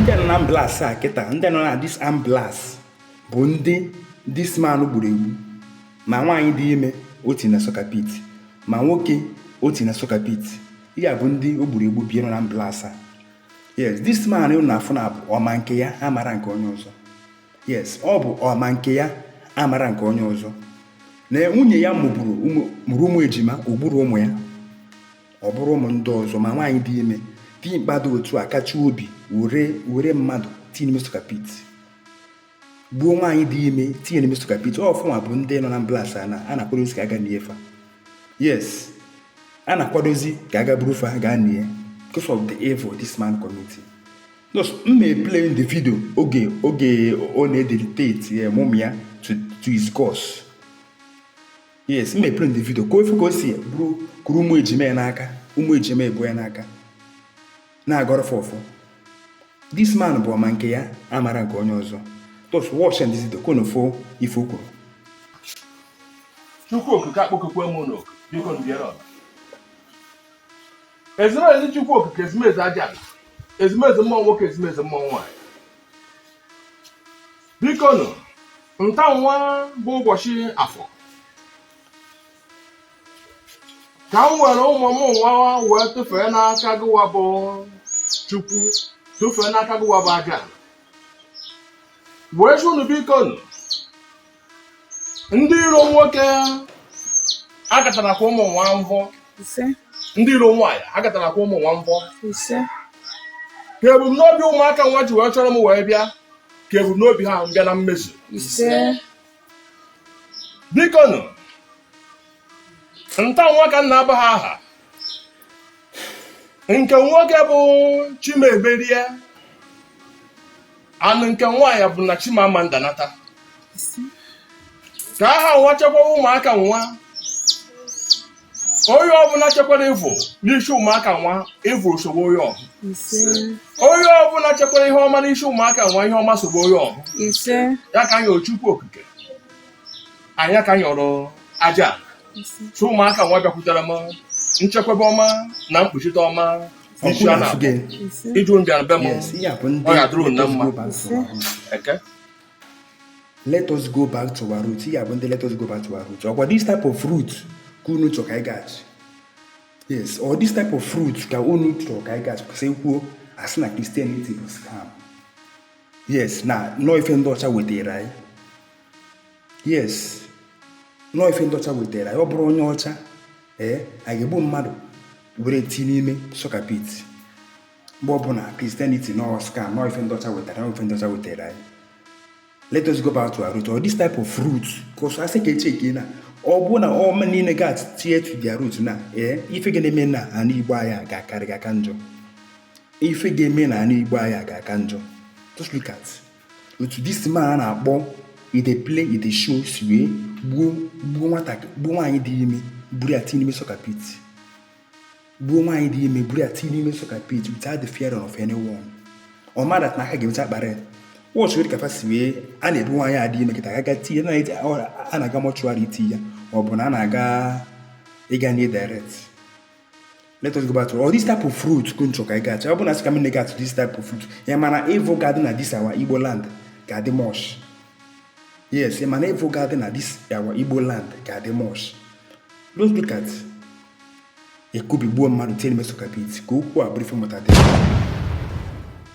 ndị nọ na ambulance a kịta ndị nọ na this ambulance bụ ndị this man gburu egbu ma nwaanyị dị ime o ti na sokapit ma nwoke o ti na sokapit ya bụ ndị o gburu egbu bie nọ na ambulance a yes this man unu na-afụ nwa bụ ọ ma nke ya amara nke onye ọzọ yes ọ bụ ọ ma nke ya amara nke onye ọzọ na nwunye ya mụrụ ụmụ ejima o gburo ụmụ ya ọ bụrụ ụmụ ndị ọzọ ma nwaanyị dị ime dimkpa dị otu a kachie obi were mmadụ tinye n'ime sokapit gbuo nwaanyị dị ime tinye n'ime sokapit ọ fa nwa bụ ndị nọ na ambulance a na-akwadozi ka a ga nie fa yes a na-akwadozi ka a ga buru fa gaa nie because of the evil this man committed just m na-eplay the video oge ọ na-ededicate eh, ụmụ ya to his gods yes m na-eplay the video ka unu fụ ka o si buru kuru ụmụ ejima ya n'aka ụmụ ejima ebu ya n'aka na-agọrọ fa ọfọ this man bụ ọ ma nke ya amara nke onye ọzọ just watch the video ka unu fụ ife o kwuru chukwu okike akpọkukwe m unu oku biko nụ bịara ọba ezumezu chukwu okike ezumezu aja ala ezumezu mmụọ nwoke ezumezu mmụọ nwaanyị bikonu nta nwa bụ ụbọchị afọ ka m were ụmụ m nwa wee tụfee n'aka gịwa bụ chukwu tụfee n'aka gịwa bụ aja wee sị unu bikonu ndị iro nwoke akatarakwa ụmụ nwa mbọ ise ndị iro nwaanyị akatarakwa ụmụ nwa mbọ ise ka ebumnobi ụmụaka nwa ji wee chọrọ m wee bịa ka ebumnobi ha bịa na mmezu biko nụ nta nwa ka m na-aba ha aha nke nwoke bụ chimeberie anụ nke nwaanyị bụ na chimamanda nata ka aha nwa chekwawa ụmụaka nwa onye ọbụla chekwara evil n'isi ụmụaka nwa evil sogbu onye ọhụ onye ọbụla chekwara ihe ọma n'isi ụmụaka nwa ihe ọma sogbu onye ọhụ ya ka anyị yọrọ chukwu okike ya ka anyị yọrọ aja so ụmụaka nwa bịakwutere m nchekwebe ọma na mkpuchite ọma isi a na-abụ ịjụ mbịara be m ọ ya dụrụ na mma eke let us go back to our root ya bụ ndị let us go back to our root ọkwa this type of root ka unu chọ ka anyị gaghachi yes ọ this type of root ka unu chọ ka anyị gaghachi kwụsị kwuo asị na Christianity bụ scam yes na ọ ife ndị ọcha wetara anyị yes na ọ ife ndị ọcha wetara anyị ọ bụrụ onye ọcha ee anyị ga-egbu mmadụ were ti n'ime sọka pit mgbe ọbụna Christianity nọ scam nọ ife ndị ọcha wetara nọ ife ndị ọcha wetara anyị let us go back to our root all this type of root because a sị ka e checkie na ọ bụ na ọma niile ga tie to their root na ee eh, ife ga na-eme na ana Igbo anyị ga-akarị ga aka njọ ife ga-eme na ana Igbo anyị ga aka njọ just look at otu this man a na-akpọ ide play ide show si wee gbuo gbuo nwaanyị dị ime buru ya tinye n'ime soka pit gbuo nwaanyị dị ime buru ya tinye n'ime soka pit without the fear of anyone ọ mara na aka ga-emecha kpara ya watch well ka fa si wee a na-ebu nwaanyị a dị ime kịta aga tinye na a na-aga mortuary iti ya ma ọ bụ na a na-aga ịga ni ya direct let us go back to all this type of root ka unu chọ ka ị gacha ọ bụ na sị ka m na-aga to this type of root ya ma na evil ga-adị na this our Igbo land ga-adị much yes ya ma na evil ga-adị na this our Igbo land ga-adị much just look at ekubigbuo mmadụ tinye n'ime soka pit ka okwu a bụrụ ife mmụta dị